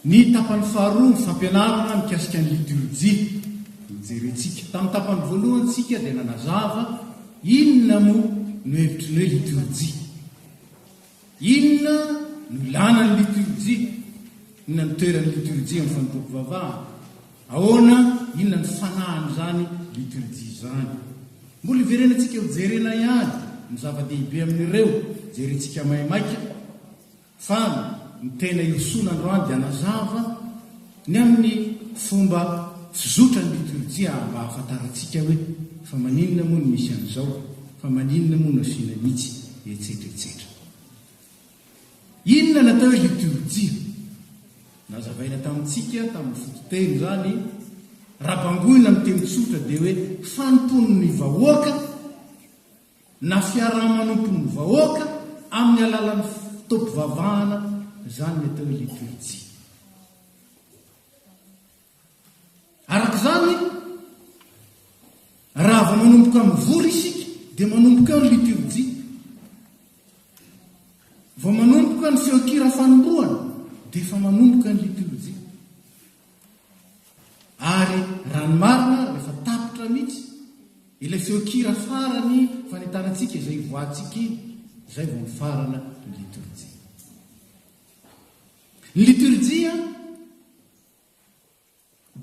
Ny tapany faharoa ny fampianarana mikasika ny liturjia no jerentsika. Tamin'ny tapany voalohany tsika dia nanazava inona moa no hevitry ny hoe liturjia. Inona no ilàna ny litorjia? Inona no toeran'ny litorjia amin'ny fanompoam-pivavahana? Ahoana, inona no fanahin'izany litorjia izany? Mbola iverenantsika ho jerena ihany ny zava-dehibe amin'ireo jerentsika maimaika fa ny tena hirosoana androany dia hanazava Ny amin'ny fomba fizotra ny litorjia mba hahafantarantsika hoe fa maninona moa no misy an'izao, fa maninona moa no asiana mihitsy, etsetra etsetra. Inona no atao hoe litorjia? Nazavaina tamintsika tamin'ny fototeny izany, raha bangoina amin'ny teny tsotra dia hoe fanompoan'ny vahoaka, na fiaraha-manompon'ny vahoaka amin'ny alalan'ny fotoam-pivavahana, izany ny atao hoe liturjia. Araka izany, raha vao manomboka mivory isika, dia manomboka eo ny liturjia. Vao manomboka ny feon-kira fanombohana, dia efa manomboka ny liturjia. Ary raha ny marina ary rehefa tapitra mihitsy ilay feon-kira farany fanentana antsika izay hivoahantsika iny, izay vao mifarana ny litorjia. Ny litorjia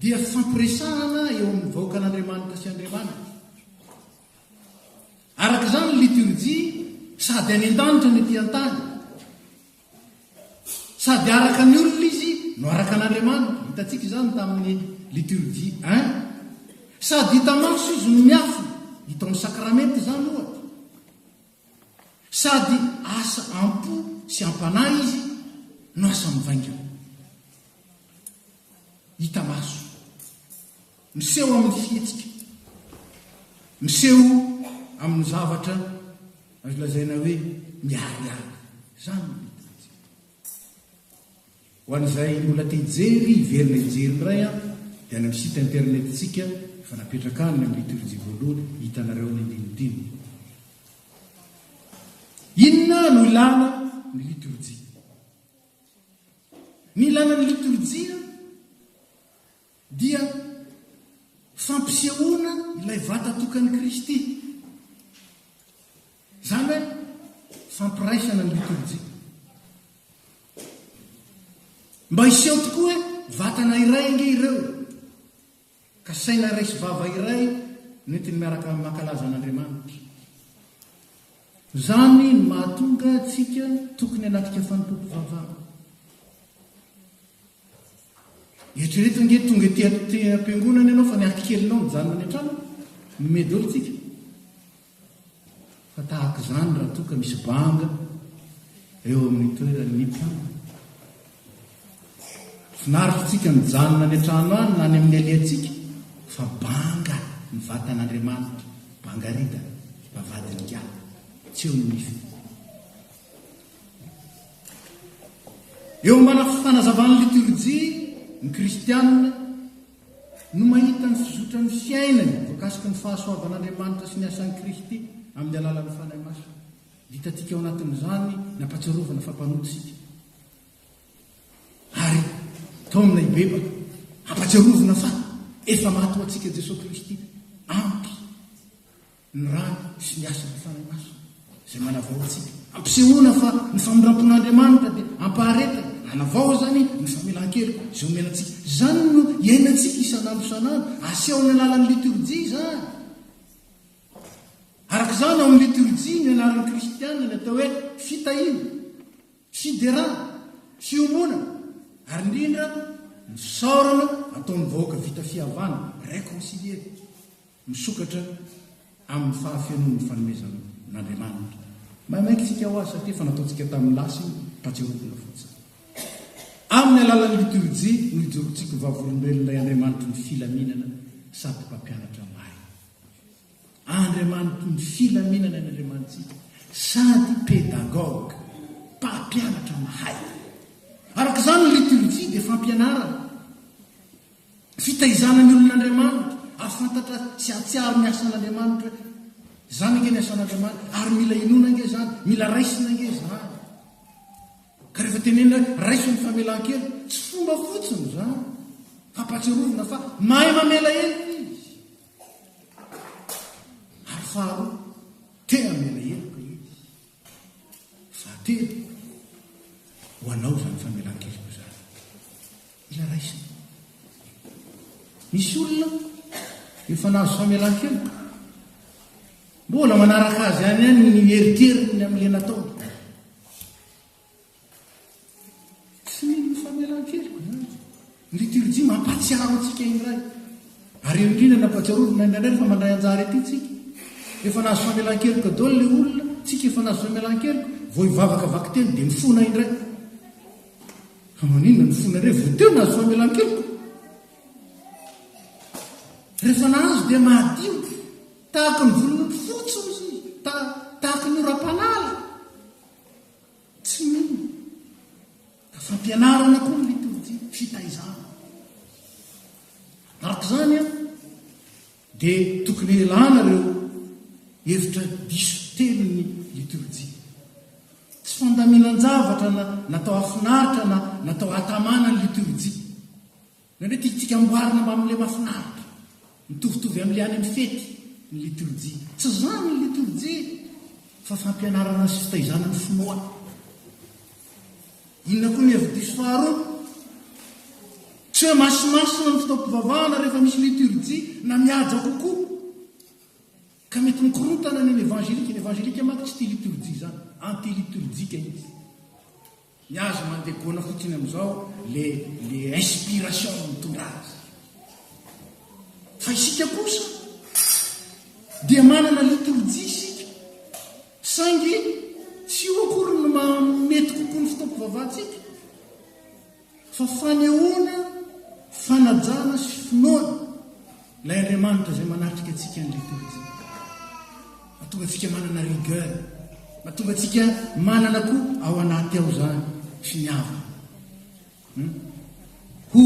dia fampiresahana eo amin'ny vahoakan'Andriamanitra sy Andriamanitra. Araka izany ny litorjia sady any an-danitra ny ety an-tany. Sady araka ny olona izy no araka an'Andriamanitra, hitantsika izany tamin'ny liturgie I. Sady hita maso izy no miafina, hita ao amin'ny sakramenty izany ohatra. Sady asa am-po sy am-panahy izy no asa mivaingana. Hita maso. Miseho amin'ny fihetsika. Miseho amin'ny zavatra azo lazaina hoe miharihary. Izany no liturjia. Ho an'izay mbola te hijery, hiverina hijery indray an, dia any amin'ny site internet-tsika efa napetraka any ny amin'ny liturjia voalohany, hitanareo ny andinidininy. Inona no ilana ny liturjia? Ny ilana ny liturjia dia fampisehoana ilay vata tokan'i Kristy, izany hoe fampiraisana ny litorjia. Mba hiseho tokoa hoe vatana iray ange ireo, ka saina iray sy vava iray nentiny miaraka amin'ny mankalaza an'Andriamanitra. Izany no mahatonga antsika tokony hanatrika fanompoam-pivavahana. Eritrereto ange tonga ety am-piangonana ianao fa ny akikelinao mijanona any an-trano, mimehy daholo isika. Fa tahaka izany raha toa ka misy banga eo amin'ny toeran'ny mpianatra. Finaritra antsika mijanona any an-trano any na any amin'ny aliantsika fa banga ny vatan'Andriamanitra, bangarida, bavadin'ingahy, tsy eo ny nify. Eo ambana fanazavan'ny litorjia, ny kristiana no mahita ny fizotran'ny fiainany voakasiky ny fahasoavan'Andriamanitra sy ny asan'i Kristy amin'ny alalan'ny Fanahy Masina. Hitantsika ao anatin'izany ny ampahatsiarovana fa mpanota isika. Ary taomina hibebaka, ampahatsiarovina fa efa maty ho antsika Jesoa Kristy. Ampy. ny rany sy ny asan'ny Fanahy Masina izay manavao antsika. Ampisehoana fa ny famindrampon'Andriamanitra dia ampaharetana, anavao izany ny famelan-keloka izay omena antsika. Izany no iainantsika isan'andro isan'andro, aseho amin'ny alalan'ny litorjia izany. Araka izany, ao amin'ny litorjia ny anaran'ny kristiana ny atao hoe fitahiana, fiderana, fiombonana, ary indrindra ny fisaorana ataon'ny vahoaka vita fihavanana, reconcilier. misokatra amin'ny fahafenoan'ny fanomezan'Andriamanitra. Maimaika isika ho Azy satria efa nataontsika tamin'ny lasa iny mba tsy arovana fotsiny. Amin'ny alalan'ny litorjia no ijoroantsika ho vavolombelon'ilay Andriamanitry ny filaminana sady Mpampianatra marina. Andriamanitry ny filaminana ny Andriamanitsika sady Pédagogue, Mpampianatra mahay. Araka izany ny litorjia dia fampianarana. Fitaizana ny olon'Andriamanitra, hahafantatra sy hahatsiaro ny asan'Andriamanitra hoe, izany ange ny asan'Andriamanitra, ary mila inoana ange izany, mila raisina ange izany. Ka rehefa tenenina hoe, raiso ny famelan-keloka, tsy fomba fotsiny izany, fampatsiarovana fa mahay mamela heloka Izy. Ary faharoa, te-hamela heloka Izy. Fahatelo, ho anao izany famelan-keloka izany. Mila raisina. Misy olona efa nahazo famelan-keloka, mbola manaraka azy ihany ihany ny eritreriny amin'ilay nataony. Tsy mino ny famelan-keloka izany. Ny liturjia mampahatsiaro antsika indray, ary eo indrindra ny ampahatsiarovina indray indray fa mandray anjara ity tsika. Efa nahazo famelan-keloka daholo ilay olona, tsika efa nahazo famelan-keloka, vao hivavaka vakiteny dia mifona indray. Fa maninona mifona indray vao teo nahazo famelan-keloka? Rehefa nahazo dia mahadio, tahaka ny volon'ondry fotsy hoy izy, tahaka ny oram-panala. Tsy mino ka fampianarana koa ny litorjia, fitaizana. Araka izany an, dia tokony elana ireo hevitra diso telon'ny litorjia. Tsy fandaminan-javatra na natao hahafinaritra na natao hahatamana ny litorjia. Ny hoe tiantsika amboarina mba amin'ilay mahafinaritra, mitovitovy amin'ilay any amin'ny fety, ny litorjia. Tsy izany ny litorjia, fa fampianarana sy fitaizana ny finoana. Inona koa ny hevi-diso faharoa? Tsy hoe masimasina ny fotoam-pivavahana rehefa misy litorjia, na mihaja kokoa, ka mety mikorontana ny an'ny evanjelika. Ny evanjelika manko tsy tia litorjia izany, anti-litorjika izy. Ny azy mandeha gona fotsiny amizao le le inspiration no mitondra azy. Fa isika kosa dia manana liturgie isika saingy tsy io akory no mahamety kokoa ny fotoam-pivavahantsika fa fanehoana fanajana sy finoana Ilay Andriamanitra izay manatrika antsika ny litorjia. Mahatonga antsika manana rigueur. Mahatonga antsika manana koa ao anaty ao izany sy ny havana. Hmm? Ho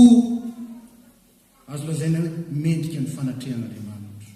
azo lazaina hoe mendrika ny fanatrehan'Andriamanitra.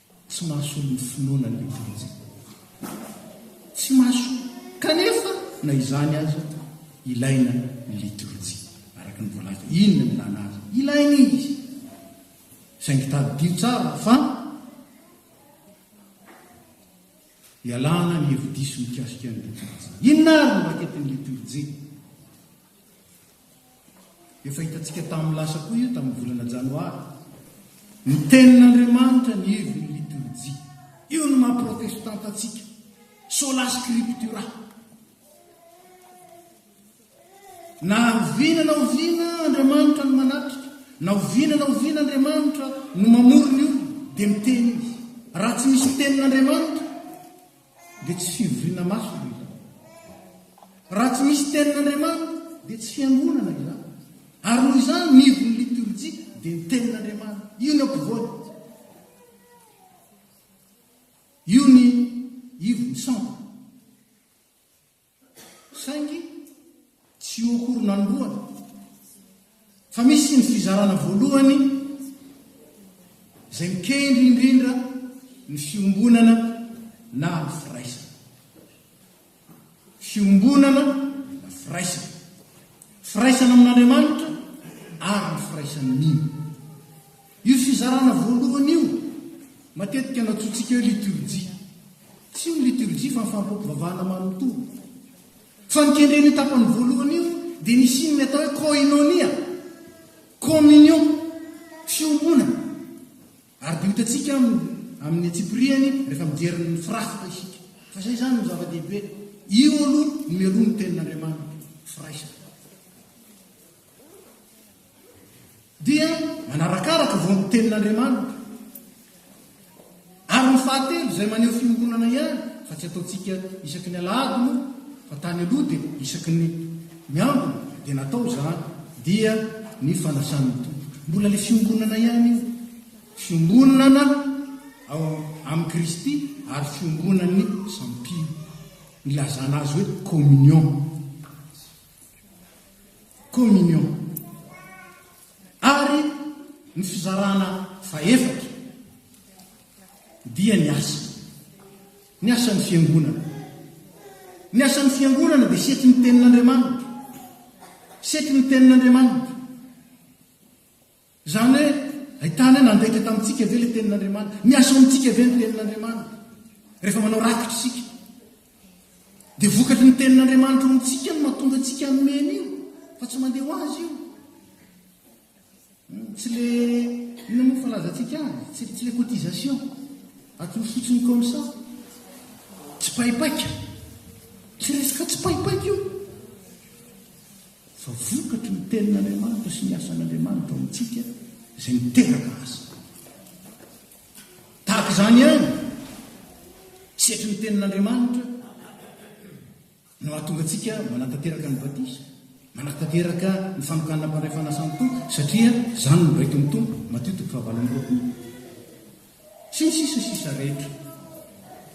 Tsy mahasoa ny finoana ny Eglizy. Tsy mahasoa. Kanefa, na izany aza, ilaina ny litorjia, araka ny voalaza. Inona ny ilana azy? Ilaina izy. Saingy tadidio tsara fa ialana ny hevi-diso mikasika ny litorjia. Inona àry no raketin'ny litorjia? Efa hitantsika tamin'ny lasa koa io tamin'ny volana Janoary. Ny Tenin'Andriamanitra ny heviny liturgie. Io no maha protestanta antsika. Sola scriptura. Na oviana na oviana Andriamanitra no manatrika, na oviana na oviana Andriamanitra no mamory ny olona, dia miteny izy. Raha tsy misy Tenin'Andriamanitra, dia tsy fivoriana maso no ilana. Raha tsy misy tenin'Andriamanitra dia tsy fiangonana ilana. Ary noho izany ny ivon'ny litorjia dia ny tenin'Andriamanitra. Io ny ampovoany. Io ny ivon'ny sampona. Saingy tsy ho horon' anoloana fa misy ny fizarana voalohany izay mikendry indrindra ny fiombonana na ny firaisana. Fiombonana na firaisana. Firaisana amin' Andriamanitra ary ny firaisan' ny. Io fizarana voalohany io matetika nantsointsika hoe liturjia. Tsy io ny liturjia fa ny fampivavahana manontolo. Fa ny kendren'io tapany voalohany io dia nisian'ny atao hoe koinonia, communion, fiombonana. Ary dia ho hitantsika amin'ny amin'ny antsipiriany rehefa mijery ny firafitra isika. Fa izay izany no zava-dehibe. Io aloha mialoha ny tenin'Andriamanitra, firaisana. dia manarakaraka vao ny tenin'Andriamanitra, ary ny fahatelo izay maneho fiombonana ihany fa tsy ataontsika isaky ny alahady moa fa tany aloha dia isaky ny miambina dia natao izany dia ny fanasan'ny Tompo mbola le fiombonana ihany io fiombonana ao amin'i Kristy ary fiombonan'ny sampino nilazana azy hoe communion communion, ary ny fizarana fahefatra dia ny asa, ny asan'ny fiangonana. Ny asan'ny fiangonana dia setry ny tenin'Andriamanitra, setry ny tenin'Andriamanitra. Izany hoe, ahitana hoe nandeka tamintsika ve ilay Tenin'Andriamanitra? Miasa ao amintsika ve ny Tenin'Andriamanitra? Rehefa manao rakitra isika, dia vokatry ny Tenin'Andriamanitra ao amintsika no mahatonga antsika hanome an'io, fa tsy mandeha ho azy io. Hmm, tsy le, inona moa falazantsika azy? Tsy, tsy le cotisation, atoro fotsiny comme ça. Tsy paipaika. Tsy resaka tsy paipaika io. fa vokatry ny Tenin'Andriamanitra sy ny asan'Andriamanitra ao amintsika izay miteraka asa. Tahaka izany ihany, sehatry ny Tenin'Andriamanitra no hahatonga antsika manatanteraka ny batisa, manatanteraka ny fanokanana mpandray fanasan'ny Tompo, satria izany no noraitin'ny Tompo, Matio toko fahavalo amby roapolo. sy ny sisa sisa rehetra.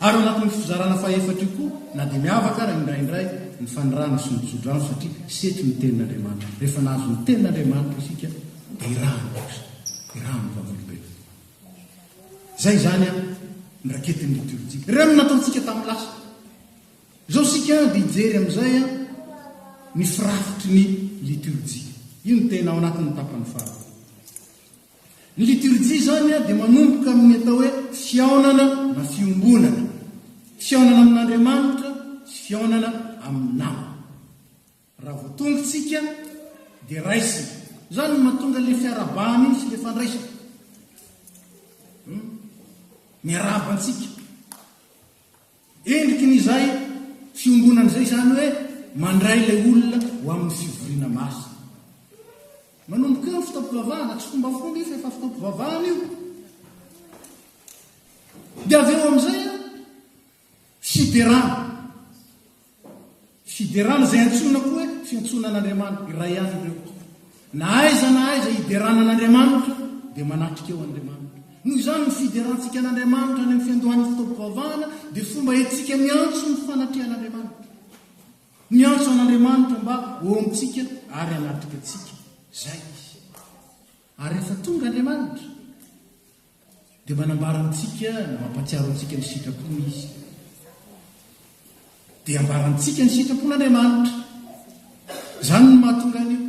Ary ao anatin'io fizarana fahefatra io koa na dia miavaka ary indraindray ny fanirahana sy ny tsodrano satria setry ny tenin'Andriamanitra. Rehefa nahazo ny tenin'Andriamanitra isika dia irahany kosa, irahan'ny vavolombelona. Izay izany an, ny raketin'ny liturjia. Ireo no nataontsika tamin'ny lasa. Izao isika dia hijery amin'izay an, ny firafitry ny liturjia. Io no tena ao anatin'ny tapany faharoa. Ny liturjia izany dia manomboka amin'ny atao hoe fihaonana na fiombonana, fihaonana amin'Andriamanitra sy fihaonana amin'ny namana. Raha vao tonga isika dia raisina. Izany no mahatonga ilay fiarahabana iny sy ilay fandraisana. Hmm? Miarahaba antsika. Endriky ny izay fiombonana izay, izany hoe mandray ilay olona ho amin'ny fivoriana masina. Manomboka eo ny fotoam-pivavahana, tsy fombafomba io fa efa fotoam-pivavahana io. Dia avy eo amin'izay fiderana. Fiderana izay antsoina koa hoe fiantsoana an'Andriamanitra iray ihany ireo. Na aiza na aiza hiderana an'Andriamanitra dia manatrika eo Andriamanitra. Noho izany ny fiderantsika an'Andriamanitra any amin'ny fiandohan'ny fotoam-pivavahana dia fomba entintsika miantso ny fanatrehan'Andriamanitra. Miantso an'Andriamanitra mba ho eo amintsika ary hanatrika antsika. Izay izy. Ary rehefa tonga Andriamanitra. Dia manambara amintsika na mampatsiaro antsika ny sitrapony Izy. Dia ambara amintsika ny sitrapon'Andriamanitra. Izany no mahatonga an'io.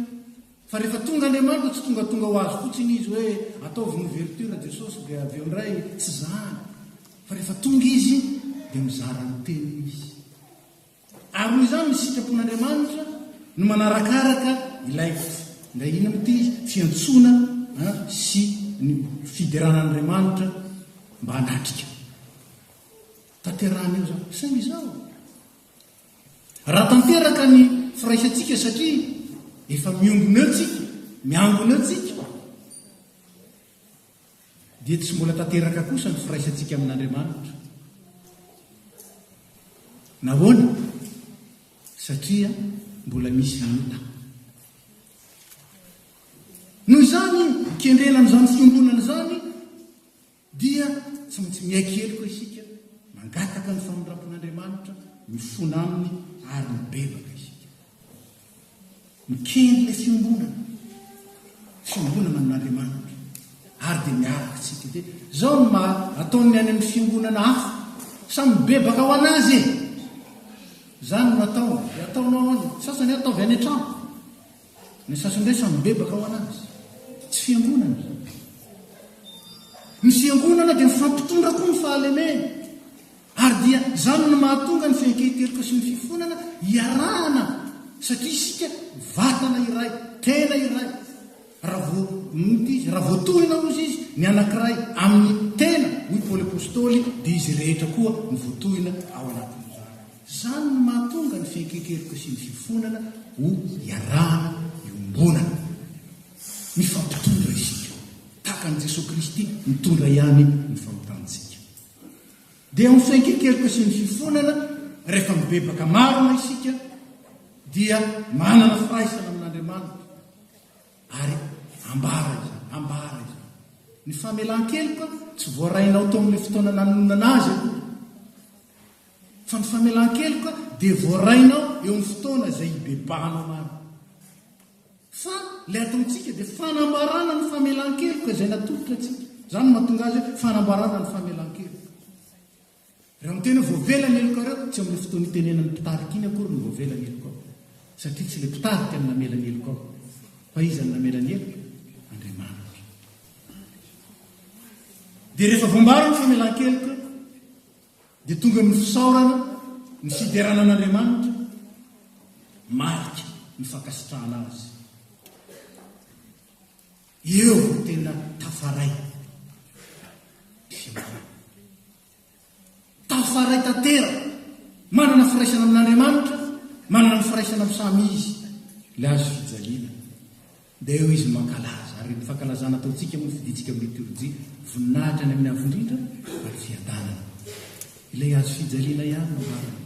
Fa rehefa tonga Andriamanitra, tsy tongatonga ho azy fotsiny Izy hoe ataovy ny ouverture Jesosy dia avy eo indray, tsy izany. Fa rehefa tonga Izy dia mizara ny teniny Izy. Ary noho izany ny sitrapon'Andriamanitra no manarakaraka ilay ilay inona moa ity fiantsoana sy ny fideran'Andriamanitra mba hanatrika. Tanterahana eo izany. Saingy izao, raha tanteraka ny firaisantsika satria efa miombona eo tsika, miangona eo tsika, dia tsy mbola tanteraka kosa ny firaisantsika amin'Andriamanitra. Nahoana? Satria mbola misy ny ota. Noho izany, kendrena amin'izany fiombonana izany, dia tsy maintsy miaiky heloka isika, mangataka ny famindram-pon'Andriamanitra, mifona aminy ary mibebaka isika. Mikendry ilay fiombonana, fiombonana amin'Andriamanitra, ary dia miaraka antsika. Dia izao no maha ataon'ny any amin'ny fiombonana hafa, samy mibebaka ho an'azy e! Izany no ataony, dia ataonao any, ny sasany ataovy any an-trano, ny sasany indray samy mibebaka ho an'azy. Tsy fiangonana izany. Ny fiangonana dia mifampitondra koa ny fahalemena. Ary dia izany no mahatonga ny fiankehin-keloka sy ny fifonana hiarahana satria isika vatana iray, tena iray. Raha vao, nota izy, raha vao tohina hozy izy ny anankiray amin'ny tena, hoy Paoly Apostoly, dia izy rehetra koa no voatohina ao anatin'izany. Izany no mahatonga ny fiankehin-keloka sy ny fifonana ho iarahana iombonana. Mifampitondra isika, tahaka an'i Jesoa Kristy nitondra ihany ny fahotantsika. Dia ny fiainkekeloka sy ny fifonana, rehefa mibebaka marina isika dia manana firaisana amin'Andriamanitra. Ary ambara izany, ambara izany. Ny famelan-keloka tsy voarainao tao amin'ilay fotoana nanononana azy aloha. Fa ny famelan-keloka dia voarainao eo amin'ny fotoana izay ibebahanao marina. Fa ilay ataontsika dia fanambarana ny famelan-keloka izay natolotra antsika. Izany no mahatonga azy hoe fanambarana ny famelan-keloka. Raha miteny hoe voavela ny helokareo, tsy amin'io fotoana itenenan'ny mpitarika iny akory ny voavela ny helokao. Satria tsy ilay mpitarika no namela ny helokao. Fa iza no namela ny heloka? Andriamanitra. Dia rehefa voambara ny famelan-keloka, dia tonga ny fisaorana, ny fiderana an'Andriamanitra, marika ny fankasitrahana Azy. Eo vao tena tafaray ny fiangonana. Tafaray tantera, manana firaisana amin'Andriamanitra, manana ny firaisana amin'ny samy Izy, ilay azo fijaliana. Dia eo izy no mankalaza, ary ny fankalazana ataontsika moa fidintsika amin'ny litorjia, voninahitra any amin'ny Avo Indrindra ary Fiadanana. Ilay hazo fijaliana ihany no marina.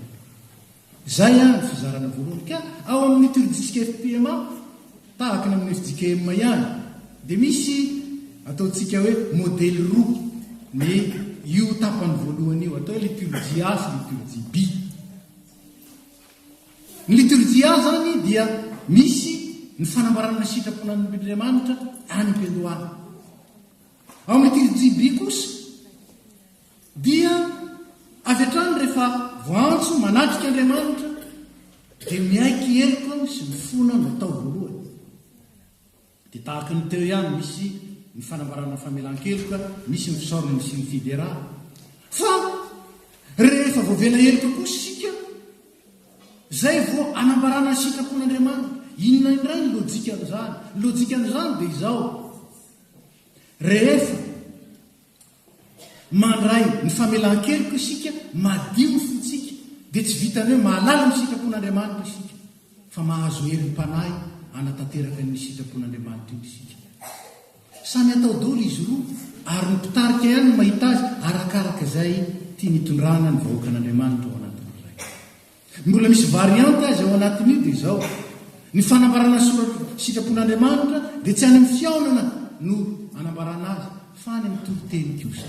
Izay àry ny fizarana voalohany. Ka ao amin'ny litorjiantsika FPMA, tahaka ny amin'ny fjkm ihany, dia misy ataontsika hoe modely roa ny io tapany voalohany io, atao hoe litorjia A sy litorjia B. Ny liturgia izany dia misy ny fanambarana ny sitrapon' Andriamanitra any am-piandohana. Ao amin'ny liturgie by kosa dia avy hatrany rehefa voantso manatrika Andriamanitra dia miaiky heloka sy mifona ny atao voalohany. Dia tahaka ny teo ihany, misy ny fanambarana famelan-keloka, misy ny fisaorana ny Synfidera. Fa rehefa voavela heloka kosa isika, izay vao anambarana ny sitrapon'Andriamanitra. Inona indray ny lojikan'izany? Ny lojikan'izany dia izao, rehefa Mandray ny famelan-keloka isika, madio ny fontsika, dia tsy vitan'ny hoe mahalala ny sitrapon'Andriamanitra isika, fa mahazo herim-panahy hanatanteraka ny sitrapon'Andriamanitra io isika. Samy atao dolo izy roa, ary ny mpitarika ihany no mahita azy arakaraka izay tiany hitondrana ny vahoakan'Andriamanitra ao anatin'ny iray. Mbola misy variante aza ao anatin'io dia izao, ny fanambarana soratro sitrapon'Andriamanitra dia tsy any amin'ny fihaonana no anambarana azy fa any amin'ny toriteny kosa.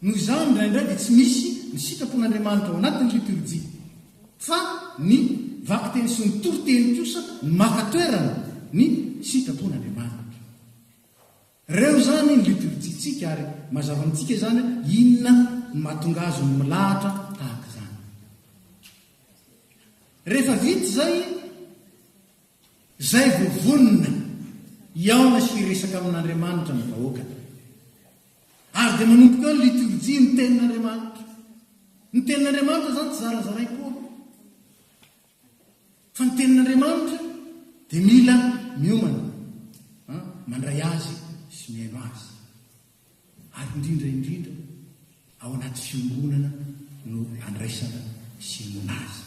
Noho izany indraindray dia tsy misy ny sitrapon'Andriamanitra ao anatin'ny liturjia fa ny vakiteny sy ny toriteny kosa no maka toerana ny sitrapon'Andriamanitra. Ireo izany ny litorjintsika ary mazava amintsika izany hoe inona no mahatonga azy ho milahatra tahaka izany. Rehefa vita izay, izay vao vonona hihaona sy hiresaka amin'Andriamanitra ny vahoaka. Ary dia manomboka eo ny litorjia, ny tenin'Andriamanitra. Ny tenin'Andriamanitra izany tsy zarazaraina koa. Fa ny tenin'Andriamanitra dia mila miomana mandray azy sy mihaino azy. Ary indrindra indrindra ao anaty fiombonana no andraisana sy inoana azy.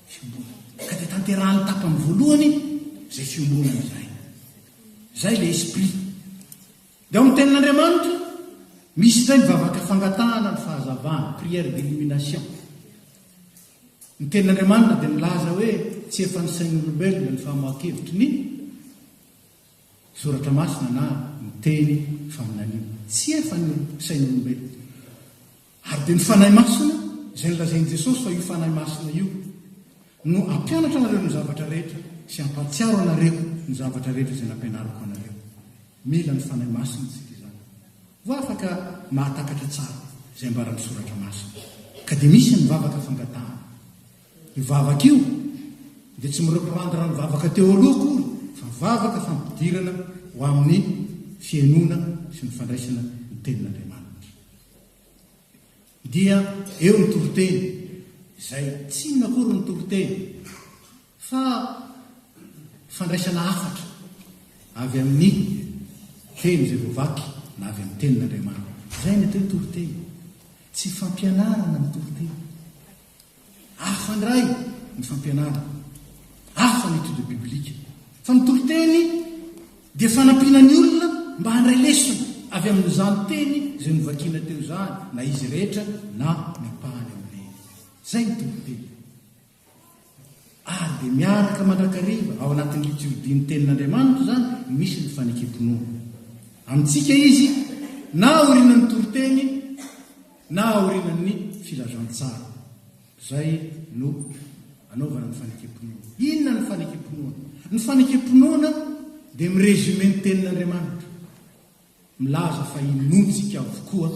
Fiombonana. Ka dia tanterahan'ny tapany voalohany izay fiombonana izay. Izay ilay esprit. Dia ao amin'ny tenin'Andriamanitra, misy indray ny vavaka fangatahana ny fahazavana, prière d'illumination. Ny Tenin'Andriamanitra dia milaza hoe tsy efa ny sain'olombelona ny famoahan-kevitry ny Soratra Masina na ny teny faminaniana. Tsy efa ny sain'olombelona. Ary dia ny Fanahy Masina, izay nolazain'i Jesosy fa io Fanahy Masina io no hampianatra anareo ny zavatra rehetra sy hampahatsiaro anareo ny zavatra rehetra izay nampianariko anareo. Mila ny Fanahy Masina isika izany vao afaka mahatakatra tsara izay ambaran'ny Soratra Masina. Ka dia misy ny vavaka fangatahana. Io vavaka io dia tsy mi-reprendre amin'ny vavaka teo aloha akory fa vavaka fampidirana ho amin'ny fihenoana sy ny fandraisana ny Tenin'Andriamanitra. Dia eo ny toriteny, izay tsy inona akory ny toriteny fa fandraisana hafatra avy amin'ny teny izay voavaky na avy amin'ny tenin'Andriamanitra. Izay ny atao hoe toriteny. Tsy fampianarana ny toriteny. Hafa indray ny fampianarana, hafa ny étude biblique. Fa ny toriteny dia fanampiana ny olona mba handray lesona avy amin'izany teny izay novakina teo izany, na izy rehetra na ny ampahany amin'ireny. Izay ny toriteny. Ary dia miaraka mandrakariva ao anatin'ny litiordian'ny tenin'Andriamanitra izany misy ny fanekempinoana. Amintsika izy, na aorianan'ny toriteny, Na aorianan'ny filazantsara izay no anaovana ny fanekem-pinoana. Inona ny fanekem-pinoana? Ny fanekem-pinoana dia mi-resumer ny Tenin'Andriamanitra. Milaza fa inoantsika avokoa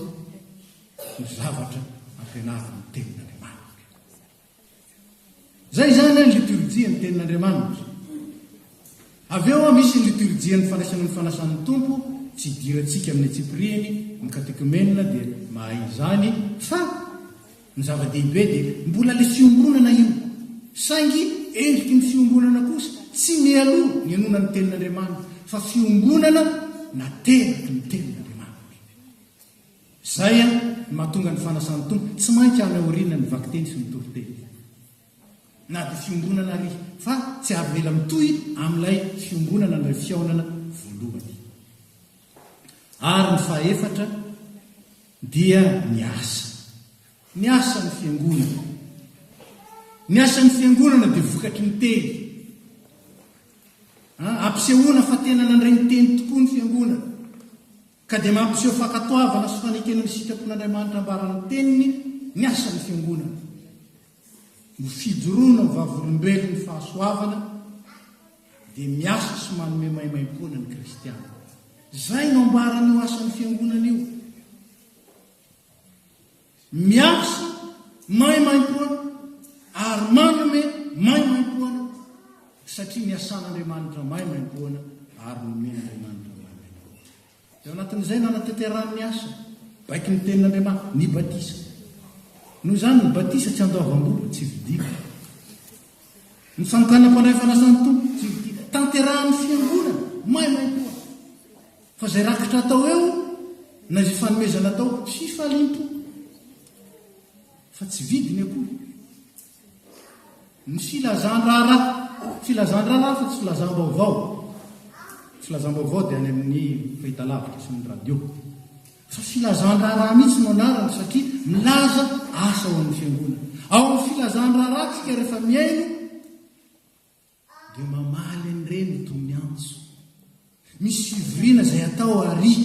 ny zavatra ampianarin'ny Tenin'Andriamanitra. Izay izany ny litorjia ny tenin'Andriamanitra. Avy eo misy ny litorjian'ny fandraisana ny fanasan'ny Tompo, tsy idirantsika amin'ny antsipirihiny, ny katekomenina dia mahay izany, fa ny zava-dehibe dia mbola ilay fiombonana io, saingy endriky ny fiombonana kosa tsy mialoha ny henoana ny tenin'Andriamanitra, fa fiombonana nateraky ny tenin'Andriamanitra. Izay no mahatonga ny fanasan'ny Tompo tsy maintsy any aoriana ny vakiteny sy ny toriteny. Na dia fiombonana àry, fa tsy avela mitohy amin'ilay fiombonana amin'ilay fihaonana voalohany. Ary ny fahefatra dia ny asa. Ny asan'ny Fiangonana. Ny asan'ny Fiangonana dia vokatry ny teny. Ampisehoana fa tena nandray ny teny tokoa ny Fiangonana. Ka dia mampiseho fankatoavana sy fanekena ny sitrapon'Andriamanitra ambaran'ny Teniny ny asan'ny Fiangonana. Ny fijoroana ho vavolombelon'ny fahasoavana dia miasa sy manome maimaimpoana ny Kristiana. Izay no ambaran'io asan'ny Fiangonana io. Miasa maimaimpoana ary manome maimaimpoana, satria ny asan'Andriamanitra maimaimpoana ary nomen'Andriamanitra maimaimpoana. Teo anatin'izay nanatanterahany ny asa, baiko ny tenin'Andriamanitra, ny batisa. Noho izany, ny batisa tsy andoavam-bola, tsy vidiana. Ny fanokàna mpandray fanasan'ny Tompo, tsy vidiana. Tanterahan'ny Fiangonana maimaimpoana. Fa izay rakitra atao eo na izay fanomezana atao fifaliam-po fa tsy vidiny akory. Ny filazan-draharaha, filazan-draharaha fa tsy filazam-baovao. Filazam-baovao dia any amin'ny fahitalavitra sy ny radio. Fa filazan-draharaha mihitsy no anarany satria milaza asa ao amin'ny fiangonana. Ao amin'ny filazan-draharahantsika rehefa mihaino Dia mamaly an'ireny i Tomiantso. Misy fivoriana izay atao àry.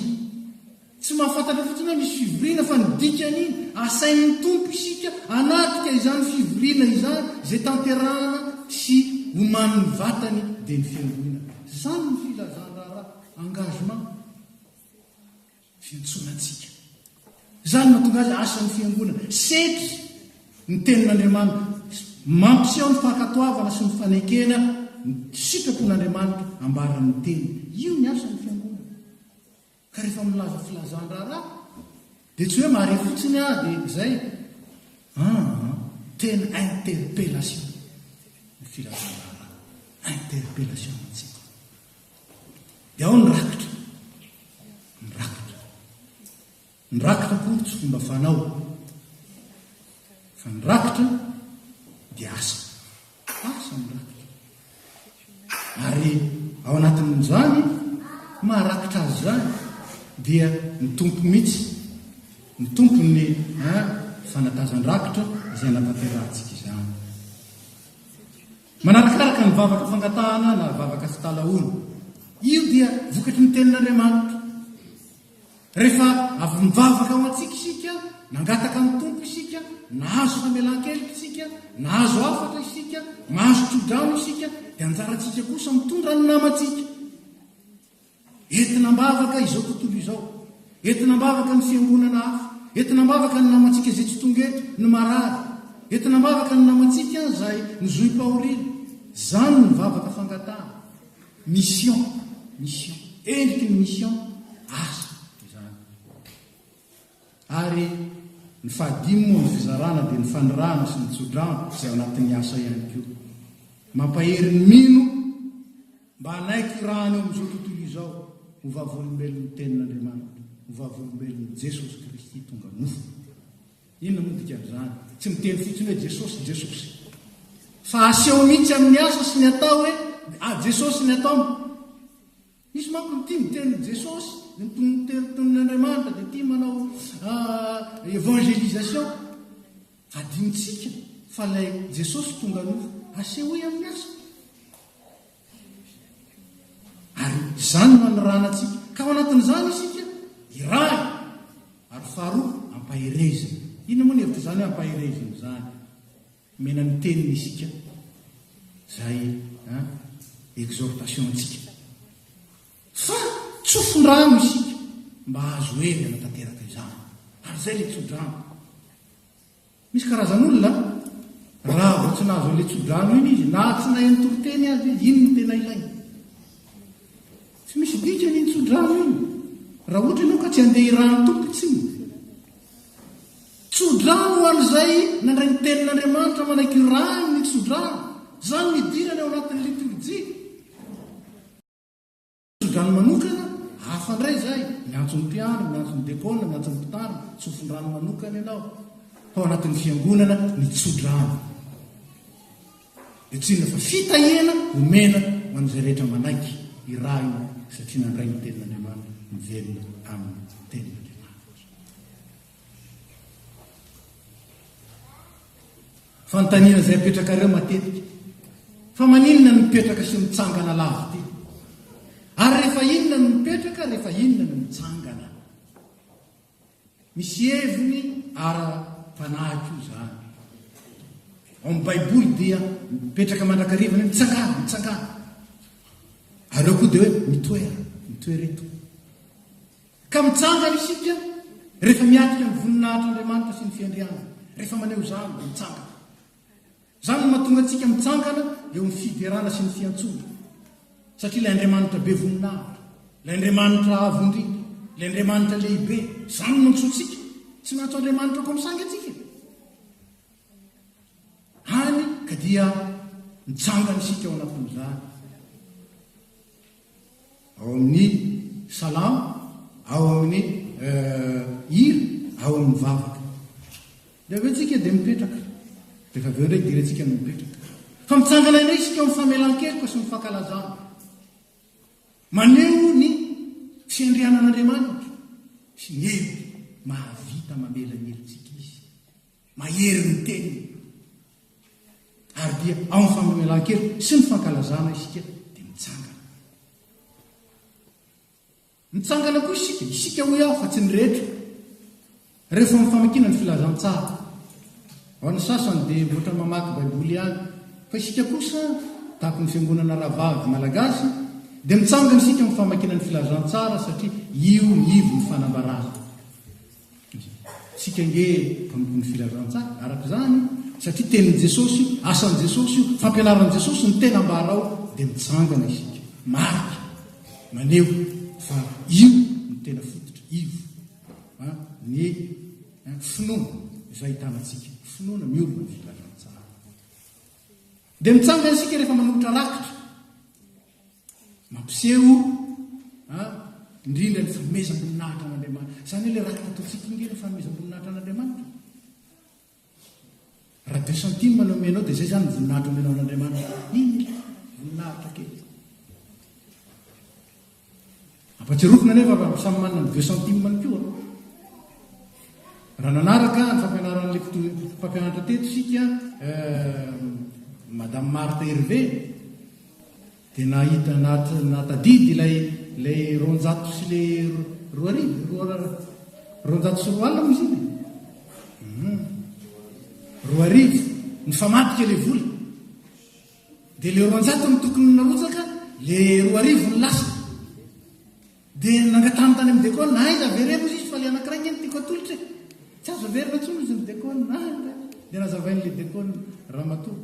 Tsy mahafantatra fotsiny hoe misy fivoriana fa ny dikan'iny, asain'ny Tompo isika hanatrika izany fivoriana izany izay tanterahana sy omanin'ny vatany dia ny fiangonana. Izany ny filazan-draharaha, engagement. fiantsoana antsika. Izany no hahatonga azy hahasoa ny Fiangonana. Setry ny Tenin'Andriamanitra. Mampiseho ny fankatoavana sy ny fanekena ny sitrapon'Andriamanitra ambaran'ny Teniny. Io ny asan'ny Fiangonana. Ka rehefa milaza filazan-draharaha, dia tsy hoe mahare fotsiny aho dia izay. Aa, tena interpellation ny filazan-draharaha. Interpellation antsika. Dia ao ny rakitra. Ny rakitra. Ny rakitra akory tsy fomba fanao. Fa ny rakitra dia asa. Asa ny rakitra. Ary ao anatin'izany, maharakitra azy izany, dia ny tompo mihitsy. Ny tompo ny fanatazan-drakitra izay anatanterantsika izany. Manarakaraka ny vavaka fangatahana na vavaka fitalahoana. Io dia vokatry ny Tenin'Andriamanitra. Rehefa avy nivavaka ho antsika isika, nangataka ny Tompo isika, nahazo famelan-keloka isika, nahazo hafatra isika, nahazo tsodrano isika, dia anjarantsika kosa mitondra ny namantsika. Entina am-bavaka izao tontolo izao. Entina am-bavaka ny fiangonana hafa. Entina am-bavaka ny namantsika izay tsy tonga eto, ny marary. Entina am-bavaka ny namantsika izay nozohim-pahoriana. Izany ny vavaka fangatahana. Mission, mission. Endriky ny mission, asa izany. Ary ny fahadimy moa ny fizarana dia ny fanirahana sy ny tso-drano izay ao anatin'ny asa ihany koa. Mampahery ny mino. Mba hanaiky hirahana eo amin'izao tontolo izao ho vavolombelon'ny Tenin'Andriamanitra, ho vavolombelon'i Jesosy Kristy tonga nofo. Inona moa ny dikan'izany? Tsy miteny fotsiny hoe Jesosy, Jesosy. Fa aseho mihitsy amin'ny asa sy ny atao hoe ah, Jesosy ny ataony. Misy manko ny tia miteny Jesosy, ny Tenin'Andriamanitra dia tia manao ah, évangélisation. Adinontsika fa ilay Jesosy tonga nofo, asehoy amin'ny asa. Ary izany no anorana antsika. Ka ao anatin'izany isika, iray. Ary faharoa, ampaherezina. Inona moa ny hevitra izany hoe ampaherezina izany? Omena ny teniny isika, izay exhortation antsika. Fa tsofin-drano isika mba hahazo hery hanatanteraka izany. Ary izay ilay tsodrano. Misy karazan'olona a, raha vao tsy nahazo an'ilay tsodrano iny izy, na tsy nahay mitoriteny aza izy, iny no tena ilainy. Tsy misy dikany iny tsodrano iny, raha ohatra ianao ka tsy handeha hirahan'ny Tompo intsony. Tsodrano ho an'izay nandray ny tenin'Andriamanitra manaiky hirahany ny tsodrano. Izany no idirana ao anatin'ny litorjia. Tsodrano manokana, hafa ndray izay, miantso ny mpiandry, miantso ny dekôna, miantso ny mpitandro, tsofondrano manokana ianao. Tao anatin'ny fiangonana ny tsodrano. Dia tsinona fa fitahiana omena ho an'izay rehetra manaiky hirahina satria nandray ny tenin'Andriamanitra, mivelona amin'ny tenin'Andriamanitra. Fanontaniana izay apetrakareo matetika. Fa maninona no mipetraka sy mitsangana lavity? Ary rehefa inona no mipetraka, rehefa inona no mitsangana? Misy heviny ara-panahy koa izany. Ao amin'ny Baiboly dia mipetraka mandrakariva ny mitsangana, mitsangana. Ary eo koa dia hoe mitoera, mitoera eto. Ka mitsangana isika rehefa miatrika ny voninahitr'Andriamanitra sy ny fiandrianany, rehefa maneho izany dia mitsangana. Izany no mahatonga antsika mitsangana eo amin'ny fiderana sy ny fiantsoana. Satria ilay Andriamanitra be voninahitra, ilay Andriamanitra avo indrindra, ilay Andriamanitra lehibe, izany no antsointsika. Tsy miantso Andriamanitra comme ça ange antsika e. Hany ka dia mitsangana isika ao anatin'izany. ao amin'ny salamo, ao amin'ny hira, ao amin'ny vavaka. Dia avy eo tsika dia mipetraka. Dia avy eo indray idirantsika ny mipetraka. Fa mitsangana indray isika amin'ny famelan-keloka sy ny fankalazana. Maneho ny fiandrianan'Andriamanitra sy ny hery mahavita mamela ny helotsika izy. Mahery ny teniny. Ary dia ao amin'ny famemelan-keloka sy ny fankalazana isika dia mitsangana. Mitsangana koa isika, isika hoy aho fa tsy ny rehetra. Rehefa amin'ny famakiana ny filazantsara. Ao ny sasany dia ohatrany mamaky Baiboly ihany. Fa isika kosa, tahaka ny fiangonana rahavavy malagasy, dia mitsangana isika amin'ny famakiana ny filazantsara satria io ny ivon'ny fanambarana. Isika ange mpanompo ny filazantsaha araka izany satria tenin'i Jesosy io, asan'i Jesosy io, fampianaran'i Jesosy ny tena ambara ao dia mitsangana isika. Marika maneho fa io no tena fototra, iv, ny finoana izay ahitana antsika, finoana miorina amin'ny filazantsaha. Dia mitsangana isika rehefa manolotra rakitra. Mampiseho indrindra ny fanomezam-boninahitra an'Andriamanitra. Izany ilay rakitra ataontsika ingahy, ny fanomezam-boninahitra an'Andriamanitra. Raha deux centimes no omenao dia izay izany ny voninahitra omenao an'Andriamanitra. Inona? Voninahitra kely. Ampatsiarovina anefa fa samy manana ny deux centimes-ny koa. Raha nanaraka ny fampianaran'ilay mpito- mpampianatra teto isika, eh, Madame Marthe Hervé, dia nahita nahat- nahatadidy ilay ilay roanjato sy ilay ro- roa arivo, roa- roanjato sy roa alina moa izy iny e? Hum. Roa arivo, nifamadika ilay vola. Dia le roanjato no tokony narotsaka, le roa arivo no lasa. Dia nangatahany tany amin'ny dekona, na aiza avereno izy fa le anankiray nge no tiako atolotra e. Tsy azo averina intsony izy ny dekona. Na, dia nazavain'le dekona, ramatoa.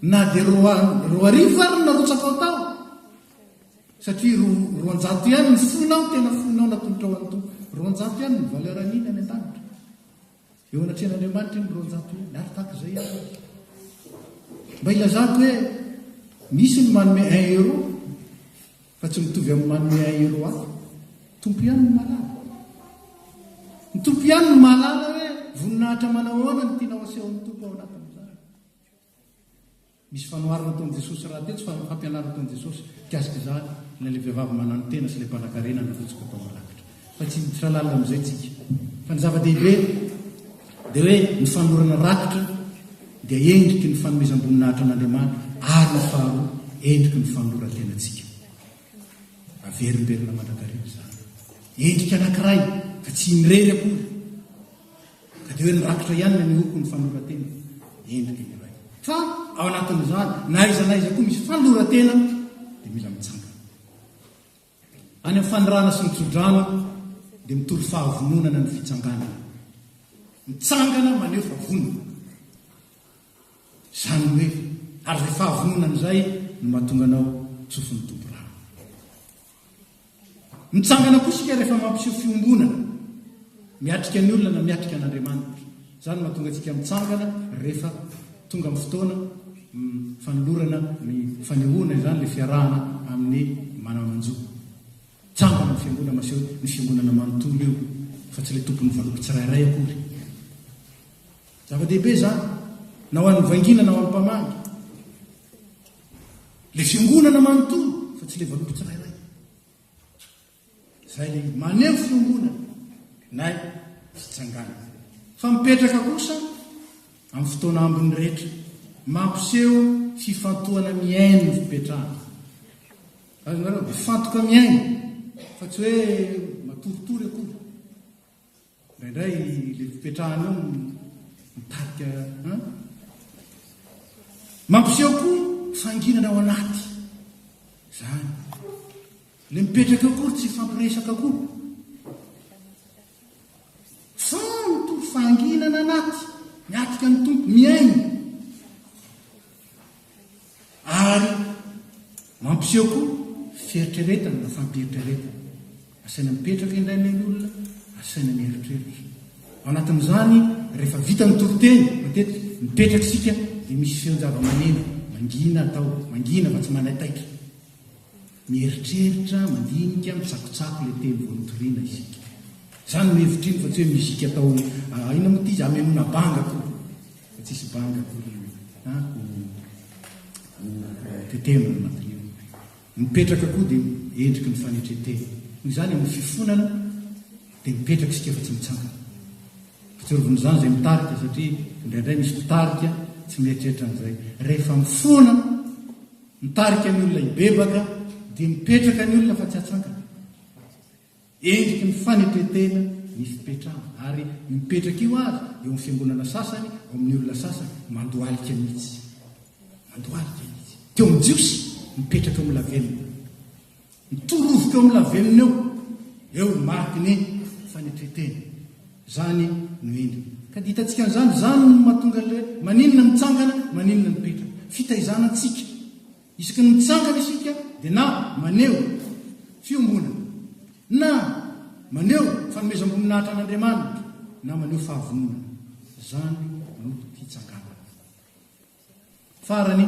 Na dia roa, roa arivo ary no narotsakao tao. Satria ro, roanjato ihany ny fonao, tena fonao natolotrao an'Tompo. Roanjato ihany ny valeur an'iny any an-danitra. Eo anatrehan'Andriamanitra iny roanjato iny, ary tahaka izay ihany izy. Mba ilazako hoe misy ny manome un euro fa tsy mitovy amin'ny manome un euro hafa. Tompo ihany ny mahalala. Ny tompo ihany ny mahalala hoe voninahitra manahoana ny tianao asehon'ny tompo ao anatin'izany. Misy fanoharana ataon'i Jesosy rahateo, tsy fa fampianarana ataon'i Jesosy mikasika izany, na ilay vehivavy mananotena sy ilay mpanankarena nandrotsaka tao amin'ny rakitra. Fa tsy hiditra lalina amin'izay tsika. Fa ny zava-dehibe dia hoe ny fanorana rakitra dia endriky ny fanomezam-boninahitra an'Andriamanitra ary ny faharoa endriky ny fanoran-tenantsika. Averimberina mandrakariva izany. Endrika anankiray fa tsy irery akory. Ka dia hoe nirakitra ihany ilay nihoko ny fanoran-tena, endrika iray. Fa ao anatin'izany, na aiza na aiza koa misy fanoran-tena dia mila mitsangana. Any amin'ny fanirahana sy ny tsodrano dia mitory fahavononana ny fitsanganana. Mitsangana maneho fa vonona. Izany hoe, ary izay fahavononana izay no mahatonga anao tsofin'ny Tompo rano. Mitsangana koa isika rehefa mampiseho fiombonana miatrika ny olona na miatrika an'Andriamanitra. Izany mahatonga antsika mitsangana rehefa tonga amin'ny fotoana mm, fanolorana ny fanehoana izany ilay fiarahana amin'ny manana manjo. Tsangana ny fiangonana maseho ny fiangonana manontolo io fa tsy ilay tompon'ny valopy tsirairay akory. Zava-dehibe izany na ho an'ny vangina na ho an'ny mpamangy. Ilay fiangonana manontolo fa tsy ilay vanompo tsirairay. Izay ilay maneho fiangonana nay fitsangana. Fa mipetraka kosa amin'ny fotoana ambiny rehetra mampiseho fifantohana mihaino ny fipetrahana. Azonareo mifantoka mihaino fa tsy hoe matoritory akory. Indraindray ilay fipetrahana eo mitarika an. Mampiseho koa fanginana ao anaty. Izany. Ilay mipetraka eo koa tsy fampiresaka koa. Fanto fanginana anaty. Miatika ny tompo miaina. Ary mampiseho koa fieritreretana na fampieritreretana. Asaina mipetraka indray ilay olona, asaina mieritreritra. Ao anatin'izany, rehefa vita ny toriteny, matetika mipetraka isika dia misy feon-javamaneno mangina atao, mangina fa tsy manaitaitra. Mieritreritra, mandinika, mitsakotsako ilay teny vao nitoriana isika. Izany no hevitr'iny fa tsy hoe musique atao inona moa ity izy hamenoana banga akory. Fa tsy hisy banga akory a ho tetehina ny anatin'io. Mipetraka koa dia endriky ny fanetren-tena. Noho izany amin'ny fifonana dia mipetraka isika fa tsy mitsangana. Atsorovin'izany izay mitarika satria indraindray misy mpitarika tsy mieritreritra an'izay. Rehefa mifona. Mitarika ny olona hibebaka dia mipetraka ny olona fa tsy atsangana. Endriky ny fanetren-tena ny fipetrahana ary io mipetraka io aza eo amin'ny fiangonana sasany, ao amin'ny olona sasany, mandohalika mihitsy. Mandohalika izy. Teo amin'ny Jiosy, mipetraka mbola velona. Mitorovoka eo amin'ny lavenona eo, eo ny mariky ny fanetren-tena. Izany no endriny. Ka dia hitantsika an'izany, izany no mahatonga an'ilay hoe, maninona no mitsangana, maninona no mipetraka. Fitaizana antsika. Isaky ny mitsangana isika dia na maneho fiombonana, na maneho fanomezam-boninahitra an'Andriamanitra, na maneho fahavononana. Izany no fitsanganana. Farany,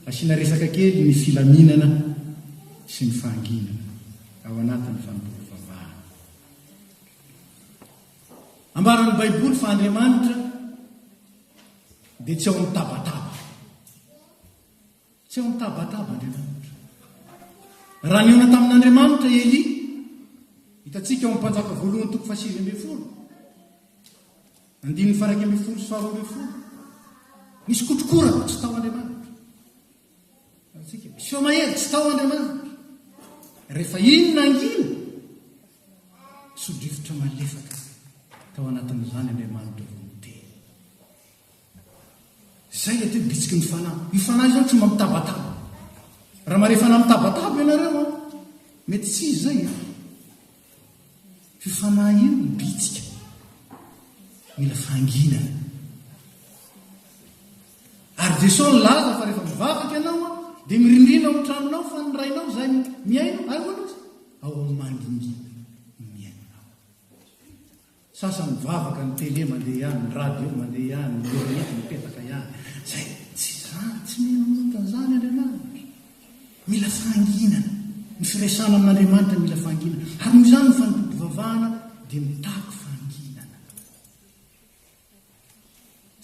asiana resaka kely ny filaminana sy ny fahanginana ao anatin'ny fanompoam-pivavahana. Ambaran'ny Baiboly fa Andriamanitra dia tsy ao amin'ny tabataba. Tsy ao amin'ny tabataba Andriamanitra. Raha nihaona tamin'Andriamanitra i Elia, hitantsika ao amin'ny Mpanjaka voalohany toko fahasivy ambin'ny folo, Andininy faha-iraika ambin'ny folo sy faharoa ambin'ny folo, Nisy kotrokorana tsy tao Andriamanitra. Antsika, mpiseo mahery tsy tao Andriamanitra. Rehefa iny na iny, sodrivotra malefaka tao anatin'izany Andriamanitra vao niteny. Izay ilay teo bitsiky ny fanahy. Io fanahy izany tsy mba mitabataba. Raha marefa fanahy mitabataba ianareo, mety tsy izy izay. Io fanahy io ny bitsika. Mila fanginana. Ary Jesosy nilaza fa rehefa mivavaka ianao dia mirindrina ao an-tranonao fa ny rainao izay miaino, aihoana izy? Ao amin'ny mandingina miainanao. Sasany mivavaka ny télé mandeha ihany, ny radio mandeha ihany, ny net mipetaka ihany. Izay tsy izany, tsy mino manonta an'izany Andriamanitra. Mila fahanginana. Ny firesana amin'Andriamanitra mila fahanginana. Ary noho izany ny fanompoam-pivavahana dia mitaky fahanginana.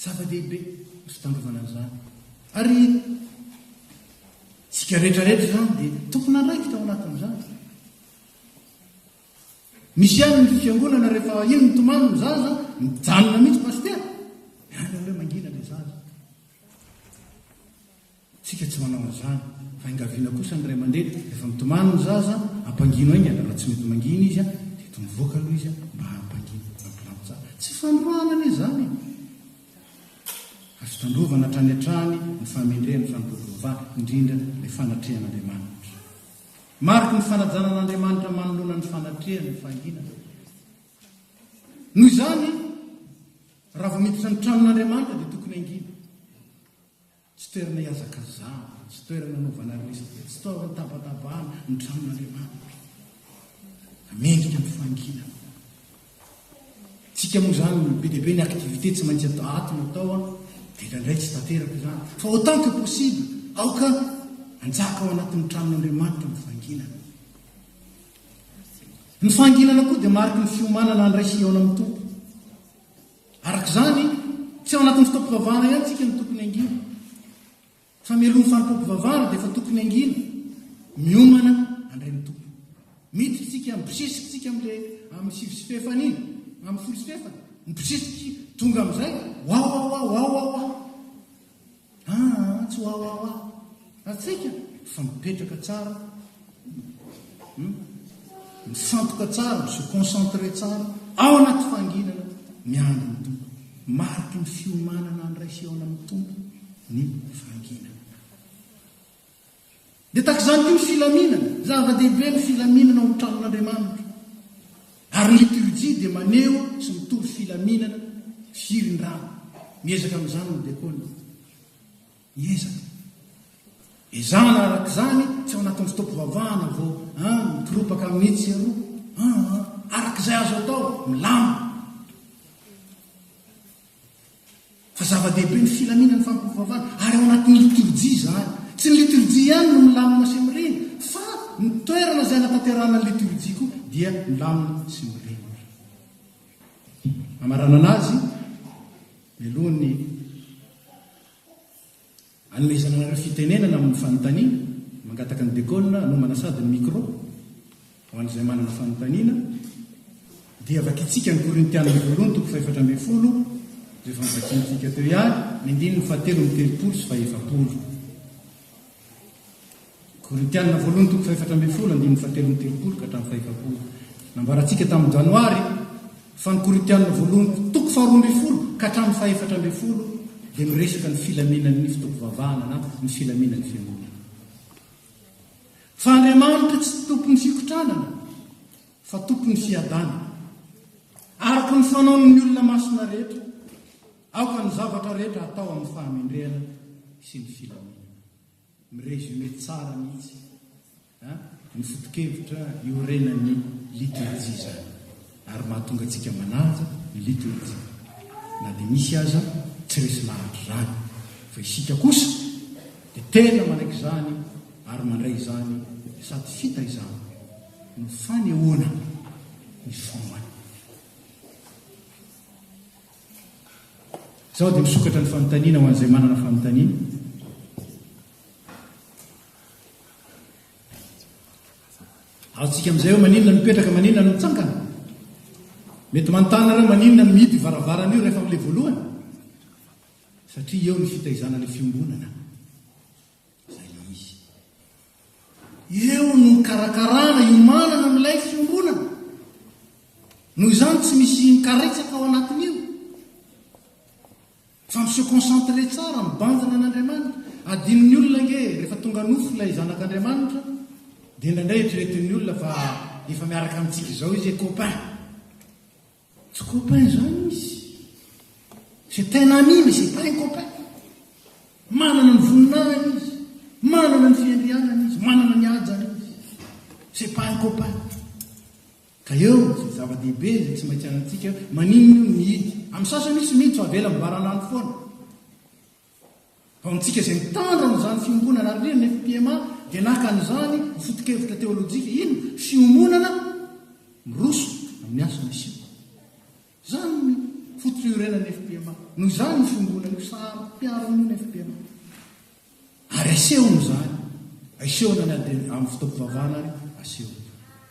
Zava-dehibe ny fitandrovana an'izany. Ary tsika rehetra rehetra izany dia tompon'andraikitra ao anatin'izany. Misy ihany ny fiangonana rehefa iny mitomany ny zaza mijanona mihitsy pasitera. Any hoe mangina ilay zaza. Tsika tsy manao an'izany. Fa engaviana kosa ny ray aman-dreny rehefa mitomany ny zaza ampangino aingana raha tsy mety mangina izy a dia to mivoaka aloha izy a mba hampangino mampilambo tsara. Tsy fandroahana anie izany e. Azo tandrovana hatrany hatrany ny fahamendrehan'ny fanompoan'i Jehovah, indrindra ilay fanatrehan'Andriamanitra. Mariky ny fanajana an'Andriamanitra manoloana ny fanatrehany ny fahanginana. Noho izany, raha vao miditra ny tranon'Andriamanitra dia tokony hangina. Tsy toerana hihazakazahana, tsy toerana hanaovana resaka, tsy toerana hitabatabahana ny tranon'Andriamanitra. Mendrika ny fahanginana. Tsika moa zany olo be dia be ny activité tsy maintsy atao ato no atao an de indraindray tsy tanteraka izany fa autant que possible aoka anjaka ao anatin'ny tranon'Andriamanitra ny fanginana. Ny fanginana koa dia mariky ny fiomanana andray sy hihaona amin'ny Tompo. Araka izany, tsy ao anatin'ny fotoam-pivavahana ihany tsika no tokony hangina. Famelohan'ny fanompoam-pivavahana dia efa tokony hangina, miomana handray ny Tompo. Miditra isika, mibosesika isika amin'ilay amin'ny sivy sy fahefany iny, amin'ny folo sy fahefany, mibosesika, tonga amin'izay, wawawa, wawawa. Aa, tsy wawawa. Ary tsaika fa mipetraka tsara. Mifantoka tsara, mi-se concentrer tsara ao anaty fahanginana, miandry ny Tompo. Mariky ny fiomanana handray fihaonana amin'ny Tompo ny fahanginana. Dia tahaka izany koa ny filaminana. Zava-dehibe ny filaminana ao amin'ny tranon'Andriamanitra. Ary ny liturjia dia maneho sy mitory filaminana, firindrana. Miezaka amin'izany ny dekona. Iza? Ezahana araka izany tsy ao anatin'ny fotoam-pivavahana vao an, mikoropaka mitsy ieroa an, araka izay azo atao, milamina. Fa zava-dehibe ny filaminan'ny fampivavahana, ary ao anatin'ny liturjia izany. Tsy ny liturjia ihany no milamina sy mirindra, fa ny toerana izay anatanterahana ny liturjia koa dia milamina sy mirindra. Hamaranana azy, mialohan'ny Anomezana anareo fitenenana amin'ny fanontaniana, mangataka ny Dekôna hanomana sady ny mikrô ho an'izay manana fanontaniana, dia vakintsika ny Korintiana voalohany toko fahefatra ambin'ny folo, izay efa novakintsika teo ihany, ny andininy fahatelon'ny telopolo sy fahefapolo. Korintiana voalohany toko fahefatra ambin'ny folo andininy fahatelo amby telopolo ka hatramin'ny fahefapolo. Nambarantsika tamin'ny Janoary fa ny Korintiana voalohany toko faharoa ambin'ny folo ka hatramin'ny fahefatra ambin'ny folo dia miresaka ny filaminan'ny foto-pivavahana na ny filaminan'ny fiangonana. Fa Andriamanitra tsy tompon'ny fikotranana fa tompon'ny fiadanana. Araka ny fanaon'ny olona masina rehetra. Aoka ny zavatra rehetra hatao amin'ny fahamendrehana sy ny filaminana. Mi-resumer tsara mihitsy ny foto-kevitra iorenan'ny litorjia izany ary mahatonga antsika manaja ny litorjia na dia misy aza tsy resy lahatra izany fa isika kosa dia tena manaiky izany ary mandray izany sady fitaizana no fanehoana ny finoana. Izao dia misokatra ny fanontaniana ho an'izay manana fanontaniana. Azontsika amin'izay hoe maninona no mipetraka, maninona no mitsangana. Mety manontany nareo maninona no mihidy varavarana io rehefa amin'ilay voalohany? Satria eo ny fitaizana ilay fiombonana. izay le izy. Eo no nikarakarana, hiomanana milay fiombonana. Noho izany tsy misy mikaretsaka ao anatin'io. Fa mi-se concentrer tsara, mibanjina an'Andriamanitra. Adinon'ny olona ange rehefa tonga nofo ilay zanak'Andriamanitra, dia indraindray eritreretin'ny olona fa efa miaraka amintsika izao izy e copain. Tsy copain izany izy. C'est un ami mais c'est pas un copain. Manana ny voninahiny izy, manana ny fiandrianany izy, manana ny hajany izy. C'est pas un copain. Ka eo izay zava-dehibe izay tsy maintsy anantsika, maninona io mihidy. Amin'ny sasany misy mihidy fa avela mibaran'andro foana. Ho antsika izay mitandro an'izany fiombonana ary indrindra ny FPMA dia naka an'izany ho foto-kevitra teolojika, inona? fiombonana miroso amin'ny asa misiona. Izany no foto-piorenan'ny FPMA. Noho izany io fiombonana io, saro-piaro io ny FPMA. Ary asehony izany, asehony any amin'ny fotoam-pivavahana ary asehony.